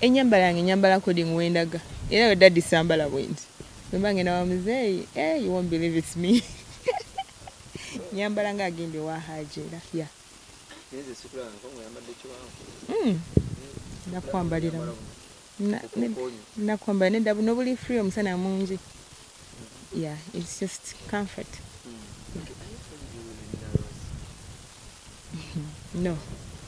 Enyambala yange nyambala according wendaga. Era we daddy sambala bwendi. Bwemba ngenda wa muzeeyi, eh you won't believe it's me. nyambala nga agende wa haji era. Yeah. Nze sikula nko ngoyambadde kiwanvu. Mm. Nakwambalira. Na nakwambalira ne dabu nobuli free omusana mungi. Yeah, it's just comfort. Mm. No.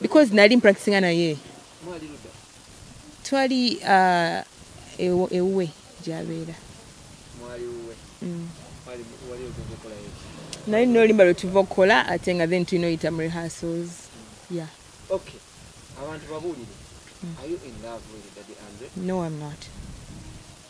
because nali mpractisinga naye twali uh, ewuwe gyabeera mm. naye nina olimba lwetuva okukola ate nga then tulina oyita mu rehearsals mm. ya abantu babuulire mm. no am not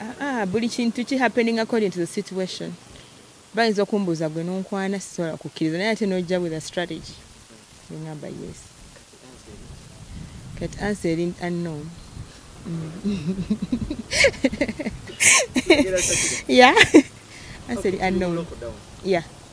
Ah, ah, buli kintu ki happening according to the situation bayinza okumbuuza gwe nonkwana sisobola kukkiriza naye ate nojja with a strategy ngamba yes kati ansa eri unknown ya ansa eri unknown ya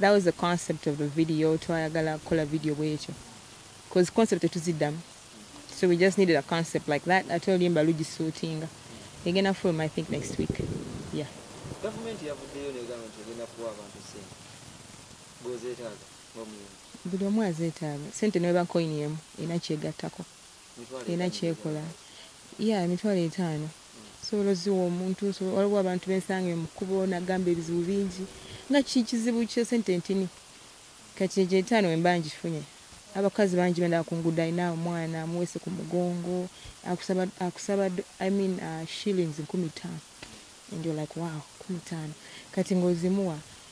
That was the concept of the video twayagala kola video bwekyo cause concept tetuzidamu so we just needed a concept like that ate olimba lugisuutinga egenda film i think next week yeah government yavuddeyo negamba nti egenda kuwa abantu sente gozetaaga ngomuyimbi buli omu azetaaga sente neweba coin emu erina kyegattako erina kyekola ya emitwalo etaano Osobola oziwa omuntu nsobola waliwo abantu bensanganye mukubo nagamba ebizibu bingi nga kikizibu kye sente ntini kati ejo etano wemba njifunye abakazi bangi bendaba kungudo alina omwana amuwese kumugongo akusaba akusaba I mean uh, shillings nkumi tano and you're like wow kumi tano kati ngozimuwa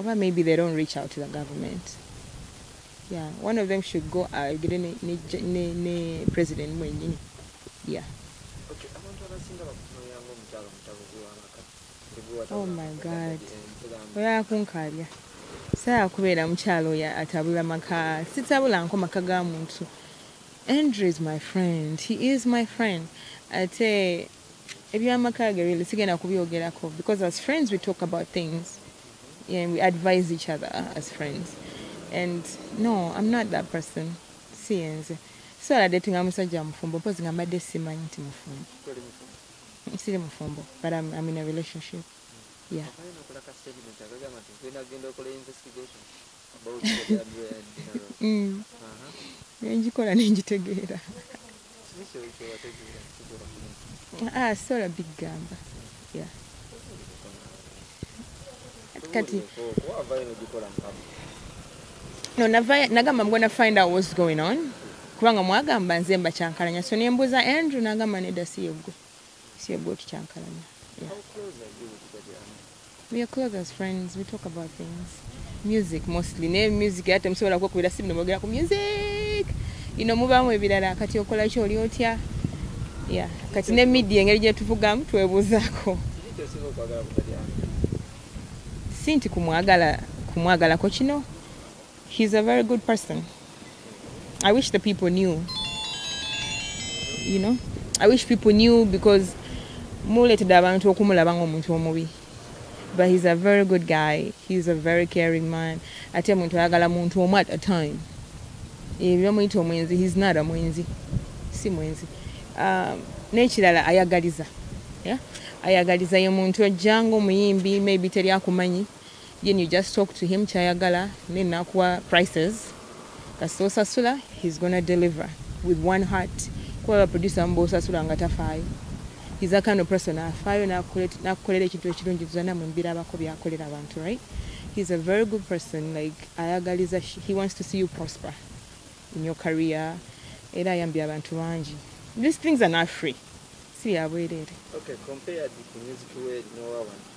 oba maybe they don't reach out to the government yeah one of them should go agire uh, ne, ne, ne, ne president mwenyini yeah okay, oh my god oyakunkalya saya kubeera mukyalo oyo atabula maka sitabula nko maka ga muntu andrew is my friend he is my friend ate ebyamaka ge really sigenda kubyogerako because as friends we talk about things and we advise each other as friends and no i'm not that person siyenze sisobola datinga musajja mufumbo mpozi nga mbadde simanyi nti mufumbo siri mufumbo but I'm, I'm in a relationship yeah Mm. nengikola nengitegeera ah, sola bigamba kati no navaya nagamba mgona find out what's going on kubanga mwagamba nze mbakyankalanya so nembuuza andrew nagamba nedasiye gwe See a good chankalanya. Yeah. How close are you with Daddy Army? We are close as friends. We talk about things. Music mostly. Ne music yate msobola kwa kubira simu nemogera ku music. Ino muba mu ebirala kati okola kyo oli otya. Yeah. Kati ne media ngeri je tuvuga mtu ebuzako. Sinti kumwagala kumwagala ko kino. He's a very good person. I wish the people knew. You know? I wish people knew because muletede abantu okumulaba ng'omuntu omubi. But he's a very good guy. He's a very caring man. Ate muntu ayagala muntu omu at a time. Ebyo muyita omwenzi, he's not a mwenzi. Si mwenzi. Um, n'ekirala ayagaliza. Yeah? ayagaliza ye muntu ojja ng'omuyimbi maybe teri akumanyi Then you just talk to him kyayagala then nakuwa prices kasita osasula he's gonna deliver with one heart kuba baproducer mba osasula nga tafaayo he's a kind of person afaayo nakukolera ekintu ekirungi tuzana mu mbirabako byakolera abantu right he's a very good person like ayagaliza he wants to see you prosper in your career era ayambye abantu bangi these things are not free si yabwereere okay,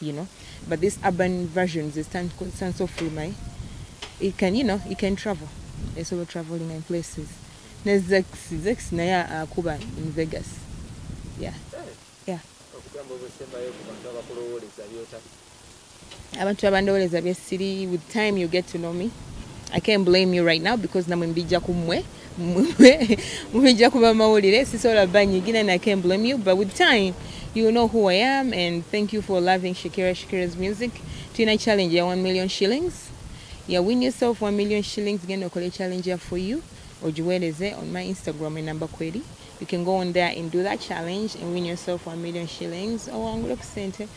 you know but this urban versions is stand stand so free my it can you know it can travel it's over traveling in places ne zex zex naye akuba uh, in vegas yeah yeah abantu abandowoleza byesiri with time you get to know me i can't blame you right now because namwe mbijja ku mmwe mubijja kuba mawulire sisobola banyigira na can blame you but with time you know who i am and thank you for loving shakira shakira's music tulina challenge ya 1 million shillings ya win yourself 1 million shillings genda okole challenge ya for you ogiweereze on my instagram enamba kweri you can go on there and do that challenge and win yourself 1 million shillings owangule ku sente